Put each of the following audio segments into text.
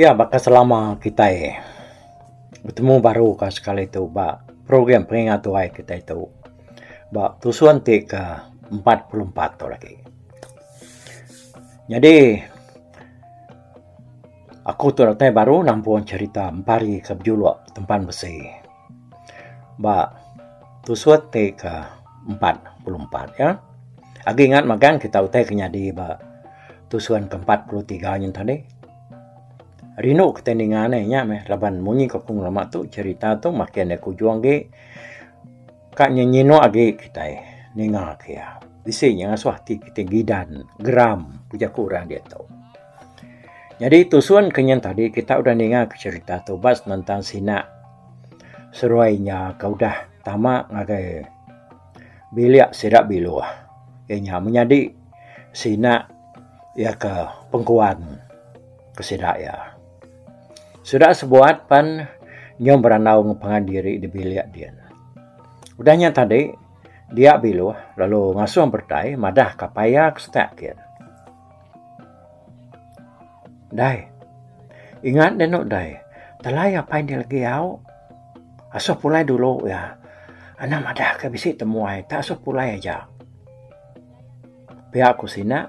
Ya baka selama kitai betemu baru ka sekali tu ba program pengingat tuai kitai tu ba tusun ti ke 44 tu lagi. Nyadi Aku tu datai baru nampung cherita empari ke bejuluk tempan besi ba tusuk ti ke empat puluh empat ya. Agi ingat magang kita utai ke nyadi ba tusun ke empat puluh tiga nyin tadi. Rindu kitai ninga ne nya meh laban munyi ke aku ngelama tu cherita tu makin aku ujung agi Ka nyenyinuk agi kitai ninga ke iya. Bisi nya ngasuh ati kitai gidan, geram, ku jaku orang diatu. Nyadi tusun ke nyin tadi kitai udah ninga ke cherita tu ba senentang sina seruai nya ke udah tama ngagai bilik sida biluh iya nya menyadi sina iya ke pengkuan ke sida iya. Sudak sebuat pan nyau berandau ngepengan diri di bilik din. Udah nya tadi, dia biluh lalu ngasuh beretai madah ka paya ke setak kin. Dai. Ingat deh eno dai, telai apai enda lagi au. Asuh pulai dulu ya. Anak madah ke bisi temuai tak asuh pulai aja. Pia ku sina.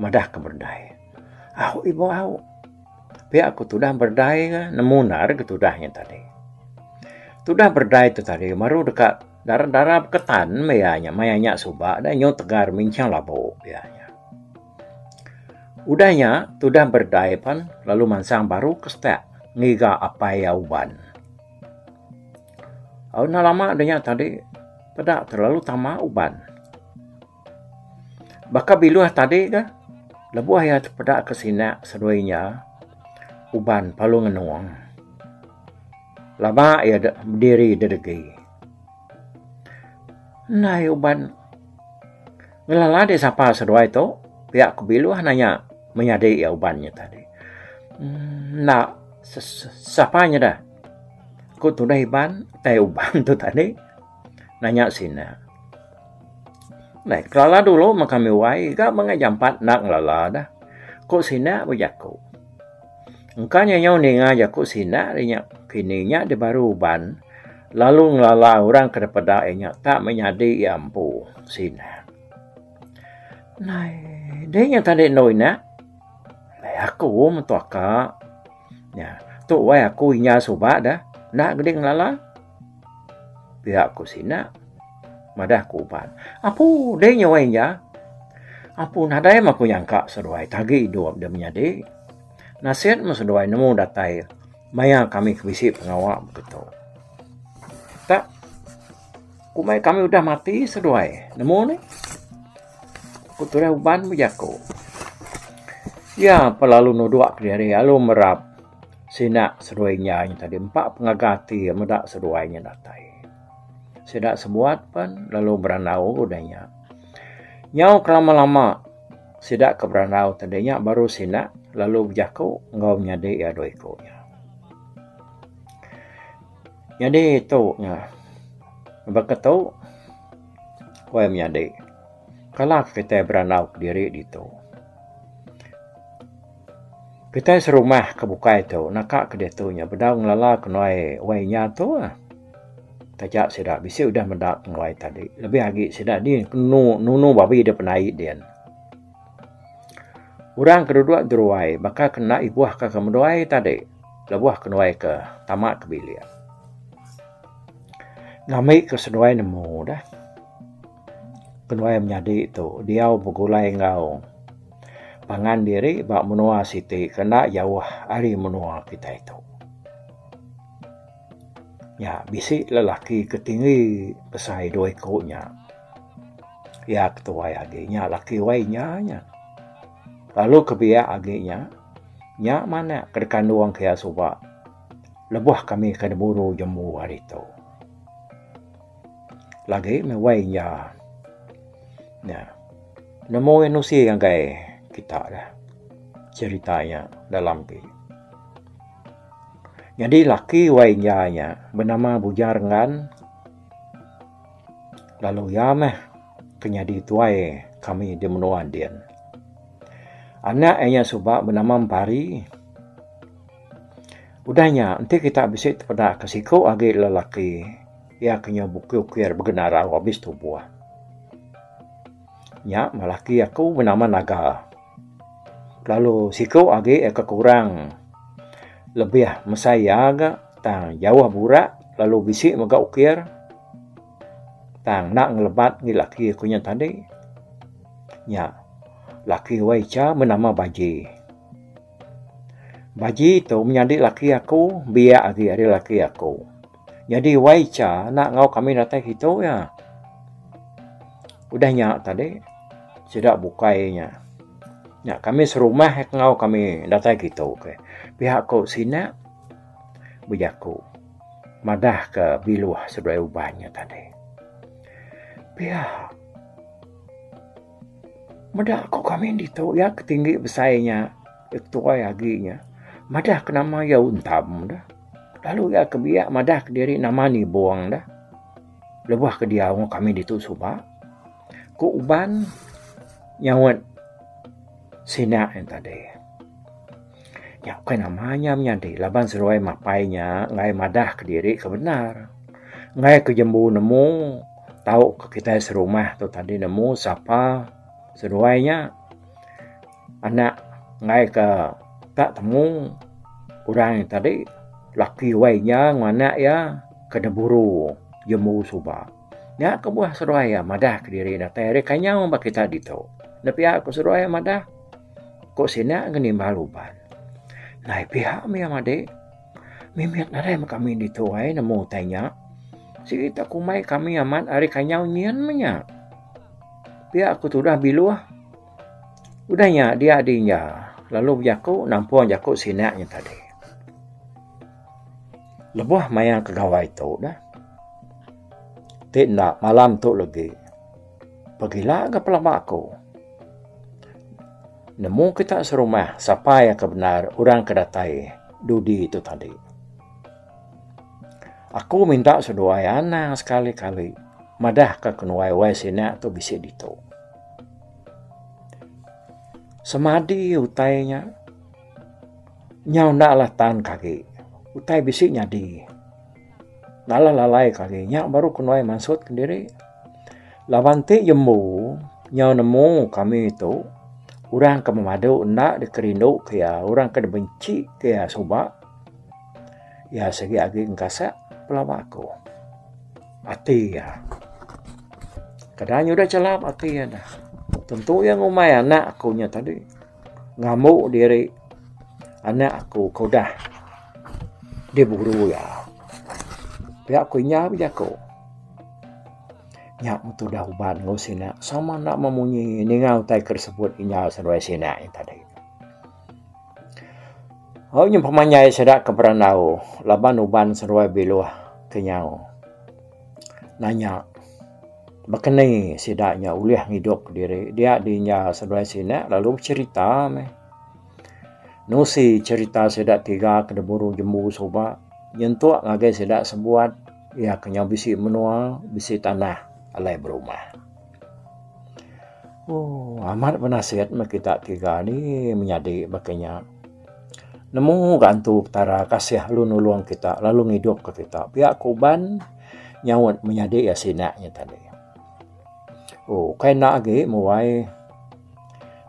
Madah ke berdai. Au ibu au. Pia aku tudah berdai ke nemu endar ke tudah nya tadi. Tudah berdai tu tadi baru deka dara-dara beketan meh iya nya maya nya suba dah nyu tegar minchang labu iya nya. Udah nya tudah berdai pan lalu mansang baru ke stak ngiga apai iya uban. Au enda lama nya tadi peda terlalu tama uban. Baka biluh tadi tu, lebuh iya tepeda ke sina seduai inya uban Palu Ngenung, lama iya dek bediri di degi. Endai uban ngelala dek sapa seduai tu, pia ku biluh nanya menyadi iya uban nya tadi. Emmm enda sapa nyada ku tudah Iban utai uban tu tadi. Nanya sida. Neh, kelala dulu meh kami wai ga mega jampat enda ngelala dah, ku sida beh jaku. Engka nya nyau ninga jaku sida ari nya kini nya deh baru uban lalu ngelala orang ke dipeda iya nya tak meh nyadi iya empu, ku sida. Neh, deh nya tadi endur ina. Ai aku meh tu aka. Nya, tu wai aku inya suba dah enda gede ngelala. Pia ku sina madah ku uban. Apu deh nyawai nya. Apu nadai meh aku nyangka seduai ti agi idup deh menyadi. Nasit meh seduai nemu datai maya kami ke bisi pengawa baka tu. Tak kumbai kami udah mati seduai nemu nih. Ku tudah uban bejaku. Iya pa lalu nudok diri lalu merap. Sida seduai nya nya tadi empa pengaga ati meda seduai nya datai. Sida sebuat pen lalu berandau udah nya. Nyau ke lama lama sida ke berandau ti deh nya baru sida lalu bejaku enggau nyadi iya dua iku nya. Nyadi tu nya baka tu kuai menyadi. Kala kitai berandau kediri ditu, kitai serumah ke bukai tu naka ke ditu nya bedau ngelala ke nuai wai nya tu. Taja sida bisi udah meda penguai tadi lebih agi sida ni enu nunu babi dep nai din. Orang ke dudok di ruai baka ke enda ibuh ka ke meduai tadi lebuh ke nuai ke tama ke bilik. Ngambi ke seduai nemu dah. Kenuai menyadi tu diau begulai enggau pangan diri ba menua siti ke enda jauh ari menua kitai tu. Nya bisi lelaki ke tinggi besai dua iku nya. Iya ke tuai agi nya laki wai inya nya. Lalu ke biak agi nya, nya manak ke dikandung ke iya suba lebuh kami ke neburu jembu hari tu. Lagi meh wai nya. Nya. Nemu nusi ngagai kita da cerita nya dalam ti. Nyadi laki wai nya nya benama Bujar Enggan lalu iya meh ke nyadi tuai kami di menua din. Anak inya suba benama Empari. Udah nya, enti kita bisi tepeda ke siku agi lelaki, iya ke nyau bukir-ukir begena rau abis tubuh. Nya meh laki aku nama Naga. Kelalu siku agi iya ke kurang lebih mesai iya ga tang jauh burak lalu bisi mega ukir tang enda ngelebat agi laki aku nya tadi. Nya laki wai cha nama Baji. Baji tu menyadi laki aku biak agi ari laki aku. Nyadi wai cha enda enggau kami datai kitu iya. Udah nya tadi sida bukai nya. Nya kami serumah ke enggau kami datai kitu ke. Pia ku sina bejaku madah ke biluh sebelah uban nya tadi. Pia. Meda ku kami ditu iya ke tinggi besai inya ke tuai agi inya madah ke nama iya Untam da lalu iya ke biak madah ke diri nama Nibong da lebuh ke diau enggau kami ditu suba ku uban nyaut sina iya tadi. Nya ukai nama nya menyadi laban seduai mapai nya enggai madah kediri ke bendar. Enggai ke jembu nemu tau ke kitai serumah tu tadi nemu sapa seduai nya anak enggai ke ka temu orang nya tadi laki wai nya enggau anak iya ke diburu jembu suba. Nya kebuah seduai iya madah kediri datai ari kenyau ba kita ditu. Enda pia ku seduai iya madah. Ko sida ngenimbal uban. Nai piha mia madi. Mimit nadai meh kami ditu ai nemu utai nya. Sigi tak kumbai kami amat ari kanyau nyin meh nya. Pia aku tudah biluh. Udah nya dia di inja lalu bejaku nampung jaku sida nya tadi. Lebuh maya ke gawai tu dah. Ti enda malam tu legi. Pegila ga pelaba aku. Nemu kita serumah sapa iya ke bendar orang ke datai dudi tu tadi. Aku minta seduai anang sekali kali madah ka kenuai wai sina tu bisi ditu. Semadi utai nya nyau enda lah tan ke agi. Utai bisi nyadi. Nalah lalai kali nya baru kenuai mansut kendiri. Laban ti jembu nyau nemu kami tu orang ke memadu enda dikerindu ke iya orang ke dibenci ke iya suba iya sigi agi engkasak pelaba aku. Ati iya keda nyudah chelap ati iya da tentu iya ngumbai anak aku nya tadi. Ngambu diri anak aku ke udah diguru iya. Pia ku inya bejaku. Nya meh tu udah uban enggau sina sama enda meh munyi ninga utai ke disebut inya seduai sina nya tadi. Au nyempama nya sida ke berandau laban uban seduai biluh ke nyau. nanya baka ni sida nya ulih ngidup diri dia di inya sebelah sini lalu becherita meh nusi cherita sida tiga ke deburu jembu suba nyentuk ngagai sida sebuat iya ke nyau bisi menua bisi tanah alai berumah. Ooh amat benasit meh kita tiga ni menyadi baka nya. Nemu ga antu Petara kasih lalu nulung kita lalu ngidup ka kita pia ku uban nyaut menyadi iya sida nya tadi. Ooh kai enda agi muai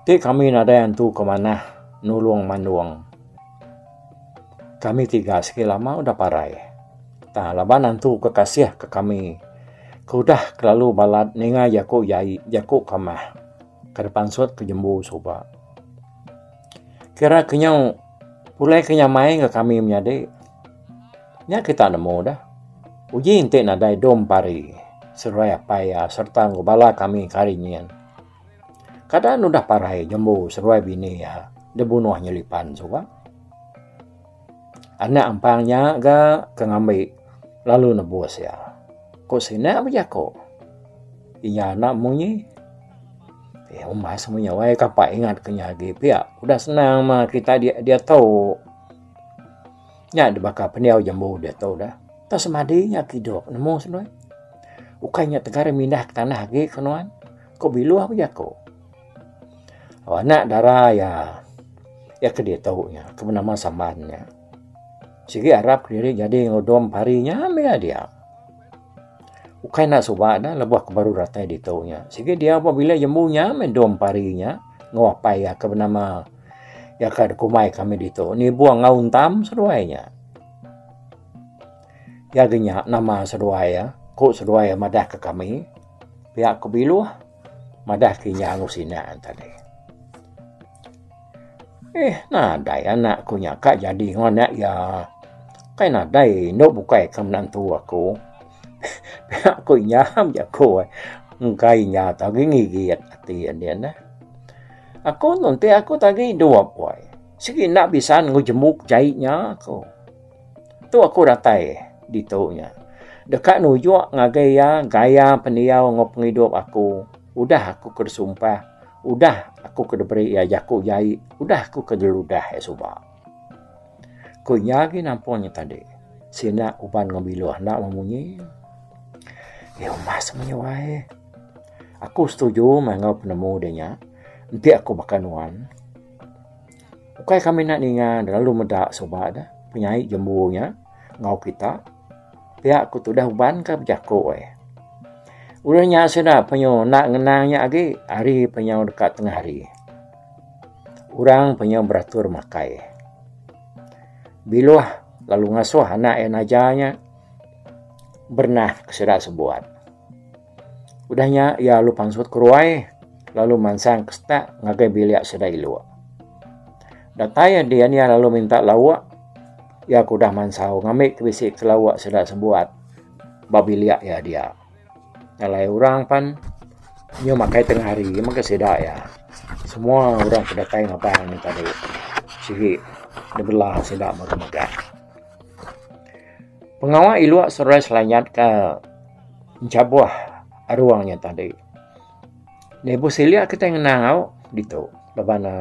ti kami nadai antu ke manah nulung mandung. Kami tiga sigi lama udah parai ta laban antu ke kasih ke kami ke udah kelalu balat ninga jaku jai jaku kamah ke pansut ke jembu suba. Kira ke nyau pulai ke nyamai enggau kami menyadi. Nya kita nemu dah. Uji enti nadai dom pari seruai apai iya sereta enggau bala kami ke ari nyin. Kada nudah parai jembu seruai bini iya dibunuh nyelipan suba. Anak ampang nya ga ke ngambi lalu nebus iya. Ku sina ba jaku inya anak munyi. Iya umbas munyi wai kapa ingat ke nya agi pia udah senang ma kita diatu. Nya da baka pendiau jambu diatu dah. Tu semadi inya ke idup nemu ukai inya tegar mindah ke tanah agi ke nuan. Ku biluh ba jaku. Oh, anak dara iya. Iya ke ditu nya, ke benama Saman nya. Sigi arap diri nyadi ngudung pari nya meh iya dia. Ukai enda suba dah lebuh ke baru datai ditu nya. Sigi dia ba bilik jembu nya meh dong pari nya enggau apai iya ke benama iya ke dikumbai kami ditu Nibong enggau Untam seduai nya. Iya gi nya nama seduai iya, ku seduai iya madah ke kami. Pia ku Biluh. Madah ke nya angus ina tadi. Eh nadai anak aku nya ka jadi enggau anak iya. Kai nadai enda bukai ke menantu aku. Pia ku iya bejaku ai. Engkai nya tu agi ngigit ati nya neh. Aku nunting aku tadi dua buai. Sigi enda bisan enggau jembu jai nya ku. Tu aku datai ditu nya deka nujuk ngagai iya gaya pendiau enggau pengidup aku udah aku ke disumpah udah aku ke diberi iya jaku jai udah aku ke diludah iya suba. Ku iya agi nampun nya tadi sina uban enggau biluh enda meh munyi. Iya umas munyi wai. Aku setuju meh enggau penemu dia nya enti aku baka nuan. Ukai kami enda ninga ne lalu meda suba ne penyai jambu nya enggau kita pia ku tudah uban ka bejaku eh. Udah nya sida penyu enda ngenang nya agi hari penyu deka tengah hari. Orang penyu beratur makai. Biluh lalu ngasuh anak iya naja nya berenah ke sida sebuat. Udah nya iya alu pansut ke ruai lalu mansang ke setak ngagai bilik sida ilu. Datai din iya lalu minta lauk iya ke udah mansau ngambi ke bisi ke lauk sida sebuat ba bilik iya dia. Alai orang pan inya makai tengah hari mega sida iya. Semua orang ke datai ngaban tadi sigi debela sida mega mega. Pengawa ilua serai selayan ka enchabuh arung nya tadi. Lebuh silik kitai ngenau ditu laban ne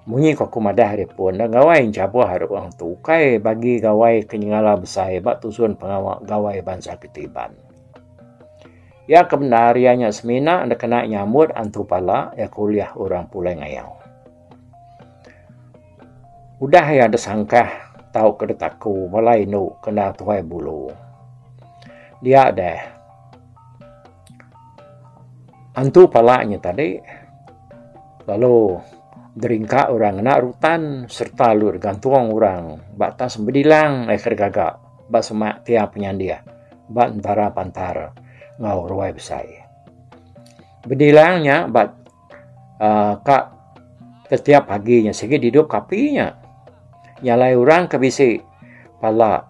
munyi ku aku madah ari pun ne gawai enchabuh arung tu ukai bagi gawai ke nyengala besai ba tusun pengawa gawai bansa kita Iban. Iya ke bendar iya nya semina ne kena nyambut antu pala iya ke ulih orang pulai ngayau. Udah iya desangkah tauka detaku bala indu kena tuai bulu. Dia deh antu pala nya tadi lalu deringka orang ngena rutan serta lu degantung orang ba atas bedilang aika degaga ba semak tiang penyandih ba entara pantar enggau ruai besai. Bedilang nya ba. uh, ka setiap pagi nya sigi didup kapi nya nyalai orang ke bisi pala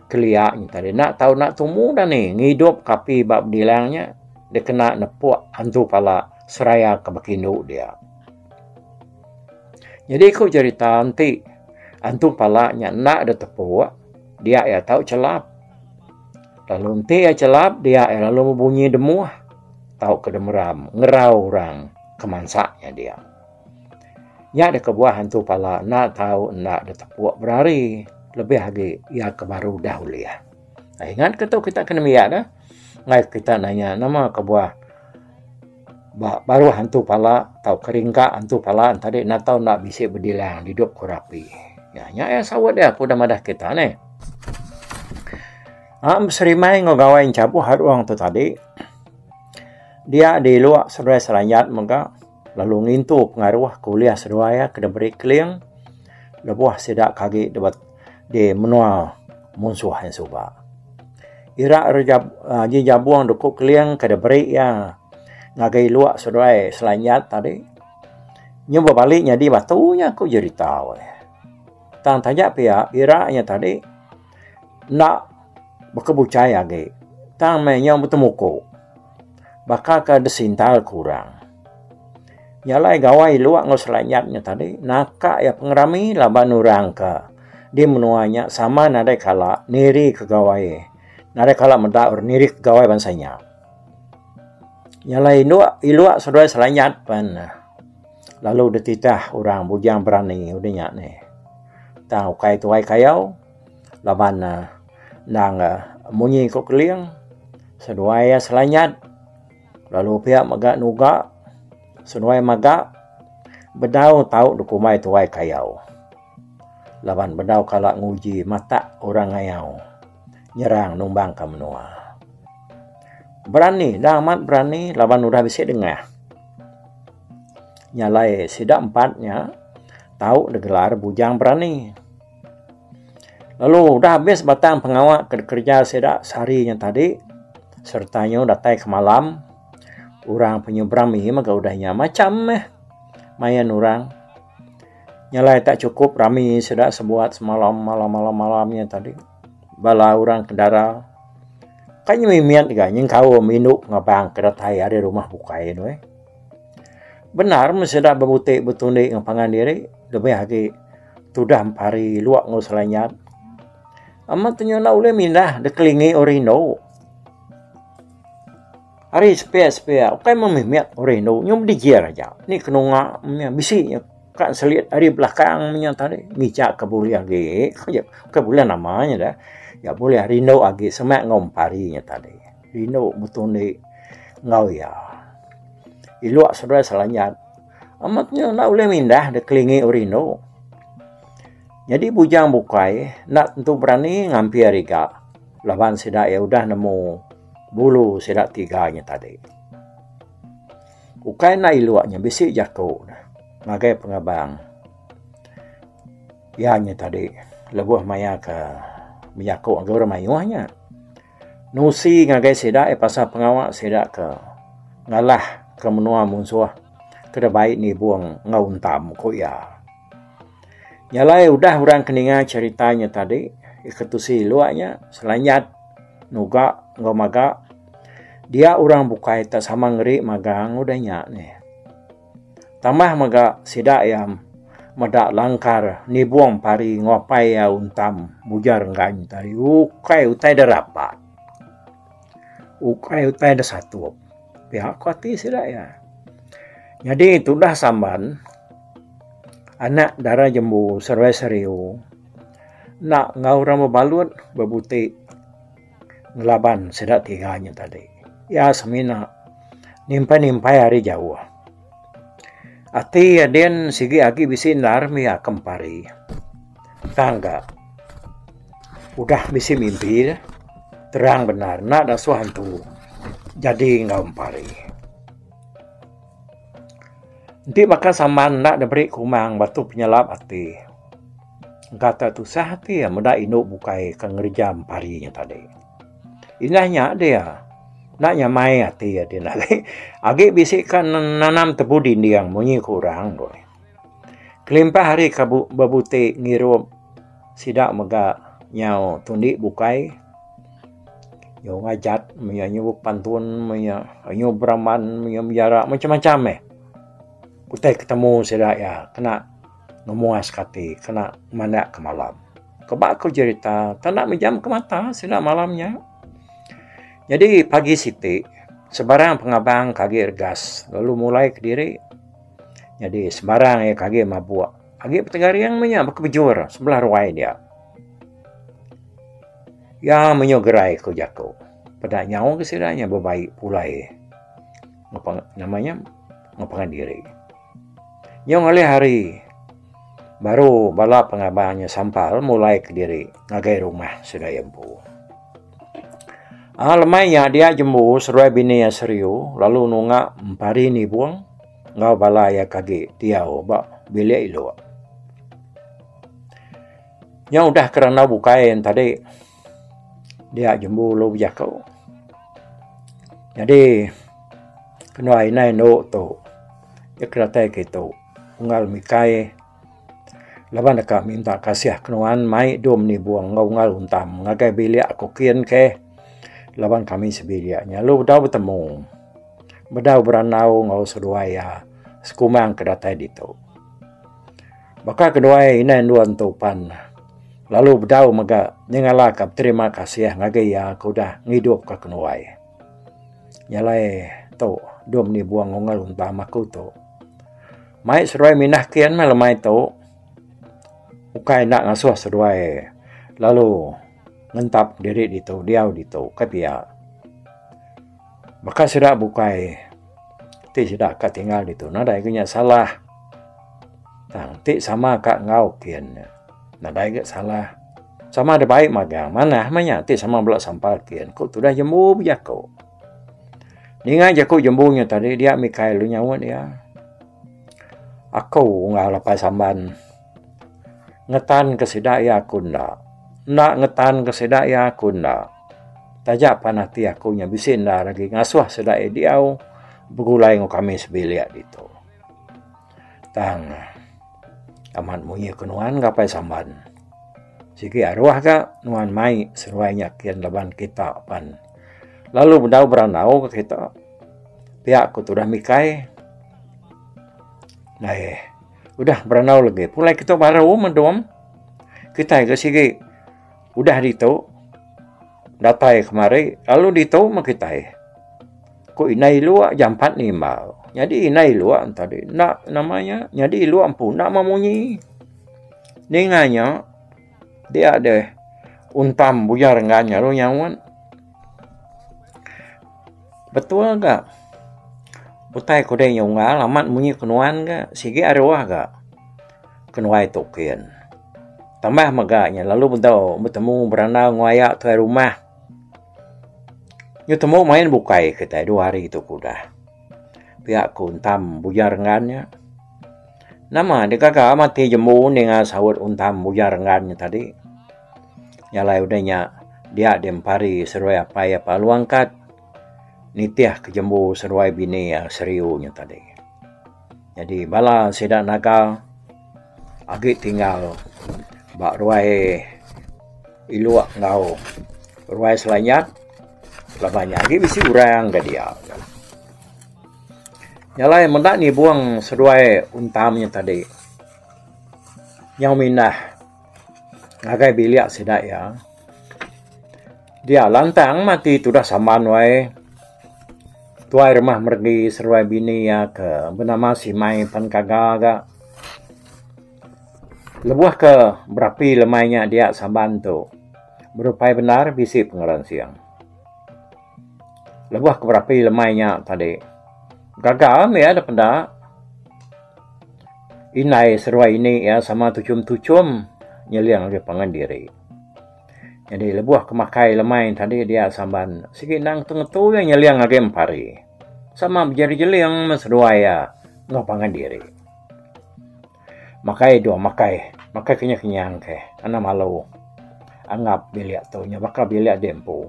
kelia nya tadi nak tau nak tumu dah ni ngidup kapi ba bedilang nya dia kena nepuk antu pala seraya ke bekindu dia jadi ku cerita enti antu pala nya nak dia tepuk dia ia tau chelap lalu enti ia chelap dia ia lalu bunyi demuh tau ke demeram ngerau orang ke mansa nya dia. Nya deka buah antu pala enda tau enda ditepuk berari lebih agi iya ke baru udah ulih. Ha, ingat ke tu kita kena miak dah. Mai kita nanya nama ke buah ba baruh antu pala tau keringka antu pala tadi enda tau enda bisi bedilang didup ku rapi. Nya nya iya saut dia ku udah madah kita neh. Am beserimai enggau gawai enchabuh arung tu tadi. Dia diluak seduai selanjat mega lalu ngintu pengaruh ke ulih seduai iya ke diberi keling lebuh sida ke agi di menua munsuh iya suba. Ira ji jabung doku keling ke diberi iya ngagai luak seduai selanjat tadi nyau bebali nyadi batu nya ku jerita weh. Tang taja pia ira nya tadi. enda baka buchai agi tang meh inya betemu ku baka ke disintal ku orang. Nya alai gawai luak enggau selai nyat nya tadi naka iya pengerami laban orang ke di menua nya sama nadai kala niri ke gawai nadai kala meda niri ke gawai bansa inya. Nya alai indu iluak seduai selai nyat pen. Lalu dititah orang bujang berani udah nya nih. Tang ukai tuai kayau laban ne endang munyi ku keling seduai iya selanyat lalu pia mega nuga seduai maga bedau tau dikumbai tuai kayau laban bedau kala nguji matak orang ngayau nyerang numbang ka menua. Berani endang amat berani laban udah bisi dengah. Nya alai sida empat nya tau digelar Bujang Berani. Lalu udah habis batang pengawa ke dikerja sida sehari nya tadi sereta nyu datai ke malam orang penyu berami mega udah nya macham meh main orang. Nya alai tak chukup rami sida sebuat semalam malam malam malam nya tadi. Bala orang ke dara kai nyu mimit ga nyengkaum indu pengabang ke datai ari rumah bukai tu eh. Bendar mun sida bebutik betundi enggau pangan diri lebih agi tudah empari lok enggau selanyap. Amat tu nyau enda ulih mindah deh kelingi orang indu. Ari sepia sepia ukai mung mimit orang indu nyau bedijil aja ni kenunga meh bisi nya ka selit ari belakang nya tadi ngija ka bulih agi ku ja ka bulih nama nya deh nya bulih rindu agi semak enggau empari nya tadi. Dinu betundi enggau iya. Ilok seduai Selanyat. Amat nya enda ulih mindah dek kelingi ori indu. Nyadi bujang bukai enda tentu berani ngampi ari ga laban sida iya udah nemu bulu sida tiga nya tadi. Ukai enda ilok nya bisi jaku ne ngagai pengebang iya nya tadi lebuh maya ke bejaku enggau orang mayuh nya. Nusi ngagai sida iya pasal pengawa sida ke ngalah ke menua munsuh ke deh bai nibung enggau untam, ku iya. Nya alai udah orang ke ninga cherita nya tadi iya ke tusi lok nya selanyat nuga enggau maga dia orang bukai tak sama ngeri magang udah nya nih. Tambah mega sida iya meda langkar nibung pari nguapai iya untam mujar enggan te ari ukai utai da rapat ukai utai da satup pia ko ati sida iya. Nyadi tudah samban anak dara jembu serue seriu enda enggau orang bebalut bebuti. ngelaban sida tiga nya tadi. Iya semina nimpai-nimpai ari jauh. Ati Adin sigi agi bisi endar mia ke empari. Tang ga udah bisi mimpi dah. Terang bendar enda dasuh antu jadi enggau empari. Enti baka saman enda diberi kumang batu penyelap ati. Engkata tusah ati iya meda indu bukai ke ngereja empari nya tadi. Indah nya dia enda nyamai ati iya din agi. Agi bisi ka nanam tebu dinding munyi ku orang doi. Kelimpah hari ka bebuti ngirup sida mega nyau tundi bukai nyau ngajat menya nyau bepantun menya nyau beraman menya bejara macam-macam meh utai ketemu sida iya kena. Memuas ke ati kena mandak ke malam. Keba ku jerita tanda mejam ke mata sida malam nya. Nyadi pagi siti sebarang pengabang ke agi regas lalu mulai kediri. Nyadi sebarang iya ke agi mabuk agi petegaring meh nya baka bejur sebelah ruai dia. Iya menyuh gerai ku jaku. Peda nyau ke sida nya bebai pulai ngepenga nama nya ngepenga diri. Nyung ulih hari baru bala pengabar nya sampal mulaika diri ngagai rumah segai empu. Aa lemai nya dia jembu seruai bini iya seriu lalu nunga empari nibung enggau bala iya ke agi diau ba bilik iluk. Nya udah ke randau bukai yen tadi. dia jembu ulu bejaku. Nyadi kenuai inai endo tu dep kiratai ke tu unggal mikai laban deka minta kasih kenuan mai dom nibung enggau unggal untam ngagai bilik aku kin ke laban kami sebilik nya lalu dau betemu bedau berandau enggau seduai iya sekumang ke datai ditu. Baka keduai indai endur enti upan ne lalu bedau mega nyengala ka beterima kasih ngagai iya ke udah ngidup ka kenuai. Nya alai tu dua meni buong ungel entama aku tu. Mai seduai minah kin meh lemai tu ukai enda ngasuh seduai lalu ngentap diri ditu diau ditu ka pia. Baka sida bukai ti sida ka tinggal ditu nadai ga nya salah. Tang ti sama ka enggau kin nya nadai ga salah. Sama da bai magang manah mah nya ti sama bala sampal kin ku tudah jembu bejaku. Ninga jaku jembu nya tadi dia mikai lu nyaut dia. Aku unggal apai samban. Ngetan ke sida iya aku enda. Enda ngetan ke sida iya aku enda. Taja pan ati aku nya bisi enda ari agi ngasuh sida iya diau begulai enggau kami sebilik ditu. Tang amat munyi ke nuan ngapai samban. Sigi aruh ga nuan mai seruai nya kin laban kita pan lalu bedau berandau ga kita. Pia ku tudah mikai. Naih. Udah berandau lagi. Pulai kita baru mendom. Kita ke sigi. Udah ditu. Datai kemari. Lalu ditu mah kita. Ku inai luak jampat ni imbau. Jadi inai luak tadi. Nak namanya. Jadi luak empu. Nak memunyi. Ninganya. Dia deh untam buyar enggau inya ru nyaut. Betul ga utai ku dei inya unggal amat munyi ku nuan ga sigi aroh ga kenuai tu kin. Tambah mega inya lalu bedau betemu berandau enggau aya tuai rumah. Betemu main bukai kitai dua hari tu ke udah. Pia ku untam buyar enggau inya. Nama dek gaga mati jembu ninga saut untam ujar enggan nya tadi. Jalai udah nya dia di empari seduai apai iya pah alu angkat nitih ke jembu seduai bini iya seriu nya tadi. Jadi bala sida naga agi tinggal ba ruai ilok enggau ruai selanyap laban nya agi bisi orang ga dia. Jalai meda nyibung seduai untam nya tadi nyau mindah ngagai bilik sida iya. Dia lantang mati tudah saman wai tuai rumah meregi seduai bini iya ke benama Simai pen kaga ga lebuh ke berapi lemai nya dia saban tu berupai bendar bisi pengeran sing. Lebuh aku berapi lemai nya tadi, gaga mih iya deh penda. Indai seruai ini iya sama tuchum-tuchum nyeling agei pangan diri. Jadi lebuh aku makai lemai tadi dia Saban, sigi endang ngetu-ngetu iya nyeling agei empari. Sama bejeling-jeling meh seduai iya enggau pangan diri. Makai dua makai. Makai kenyah kenyah engkai. Anang malu. Angap bilik tu nya baka bilik di empu.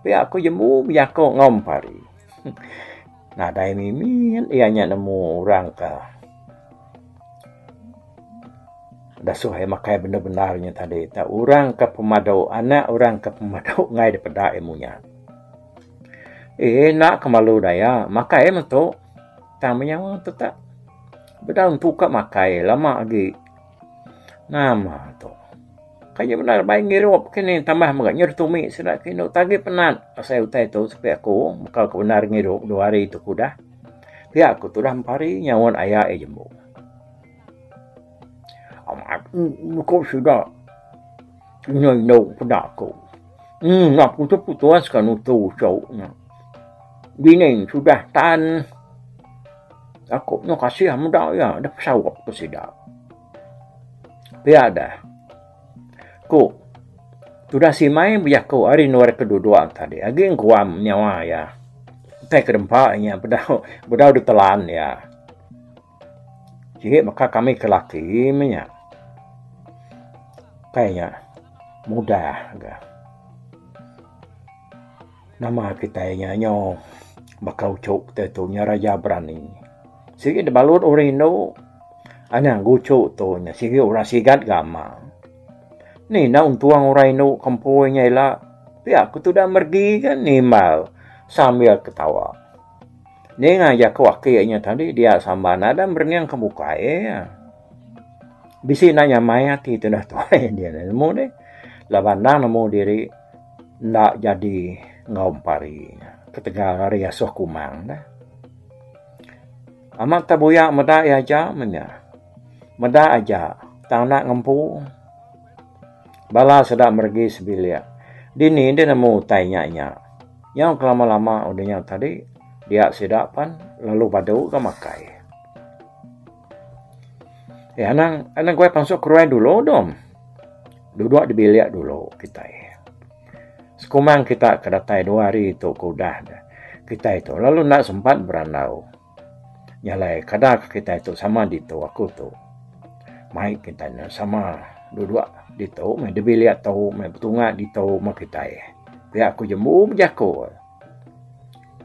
Pia aku jembu bejaku enggau empari. Nadai mimit iya nya nemu orang ke dasuh iya makai bendar bendar nya tadi tu. Orang ke pemadu anak orang ke pemadu enggai dipeda iya munyat. Ina ke malu daya. Makai metu. Tang menyawa tu tak. Bedau empu ka makai lama agi. Nama tu. Kaya bendar baik ngirup kini tambah mega nyuruh tumi sida ke inu tagi penat pasai utai tu sepi aku meka ke bendar ngirup dua hari tu ku dah. Pia ku tu dah empari nyaut aya iya jembu. Amat meko sida. Nyoi no peda ko. Hmm ngap ku tu putus ka nutu cho nya. Bini sudah tan aku nyo kasih meda iya deh pesaup ke sida. Pia deh ko sudah simai bejaku ari nuar ke dudok tadi agi guam nyawa iya. Utai ke dempa iya bedau bedau ditelan iya. Sigi meka kami ke laki meh nya. Kai nya mudah ga. Nama kitai nya nyo baka uchu kitai tu nya raja berani. Sigi da balut orang indu anang ga uchu tu nya sigi orang sigat ga ama. Ni enda untung orang indu kempui nya ila pia ku tuda meregi ga nimbal sambil ketawa. Ninga jaku aki inya tadi dia Sambal nadai merening ke bukai iya. Bisi enda nyamai ati tudah tuai dia nih nemu dih laban endang nemu diri enda jadi enggau empari inya ketegal ari asuh kumang dah. Amat teh buya meda iya aja meh inya. Meda aja tang enda ngempu. Bala seda meregi sebilik. Dini deh nemu utai nya nya. Nyau kelama lama udah nya tadi dia sida pan lalu badu ga makai. Iya anang anang kuai pansut keruai dulu dom. Dudok di bilik dulu kitai. Sekumang kita ke datai dua hari tu ke udah kitai tu lalu enda sempat berandau. Nya alai kada ka kitai tu sama ditu aku tu. Mai kitai ne sama dua dua ditu meh dibilik tu meh betunga ditu meh kitai. Pia ku jembu bejaku.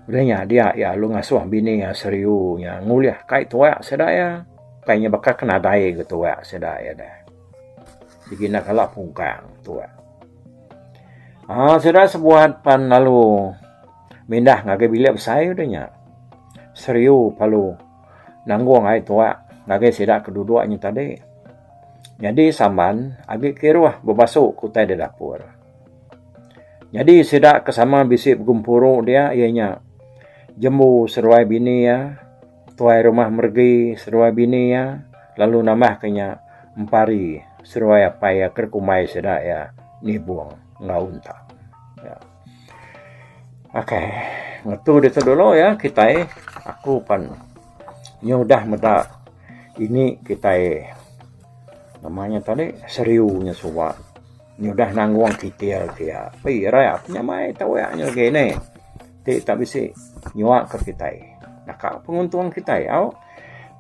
Udah nya dia iya lalu ngasuh bini iya seriu nya ngulih kai tuwa sida iya. Kai nya baka ke nadai ga tuwa sida iya deh. Begina kala pungkang tuwa. Aaa sida sebuat pan lalu. Mindah ngagai bilik besai udah nya, Seriu Palu nanggung ai tuak ngagai sida ke duduk nya tadi. Nyadi Samban agi kiruh bebasu ke utai da dapur. Nyadi sida ke sama bisi begempuru dia iya nya Jembu seduai bini iya, Tuai Rumah Meregi seduai bini iya lalu nambah ke nya Empari seduai apai iya ke dikumbai sida iya Nibong enggau Untak. Ok ngetu ditu dulu ya kitai aku pan nyudah meda ini kitai nama nya tadi seriu nya suba nyudah nanggung kitil ke iya. Pi ira iya pun nyamai tuya nya lagi ne ti ita bisi nyua ka kitai naka penguntung kitai au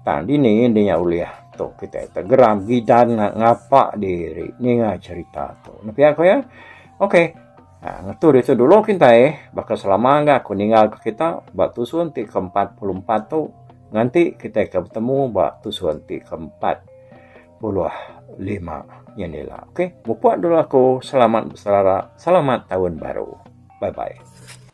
tang dini indi nya ulih tu kitai geram gidan ngapa diri ninga cherita tu. Pia ku iya. Okey. Ha, ngetu ditu dulu kintai, baka selama ga aku ninggal ke kita ba tusun ti ke-44 tu nganti kita ke betemu ba tusun ti ke-45 nya ni lah. Okey, mupuk dulu aku selamat beserara, selamat taun baru. Bye bye.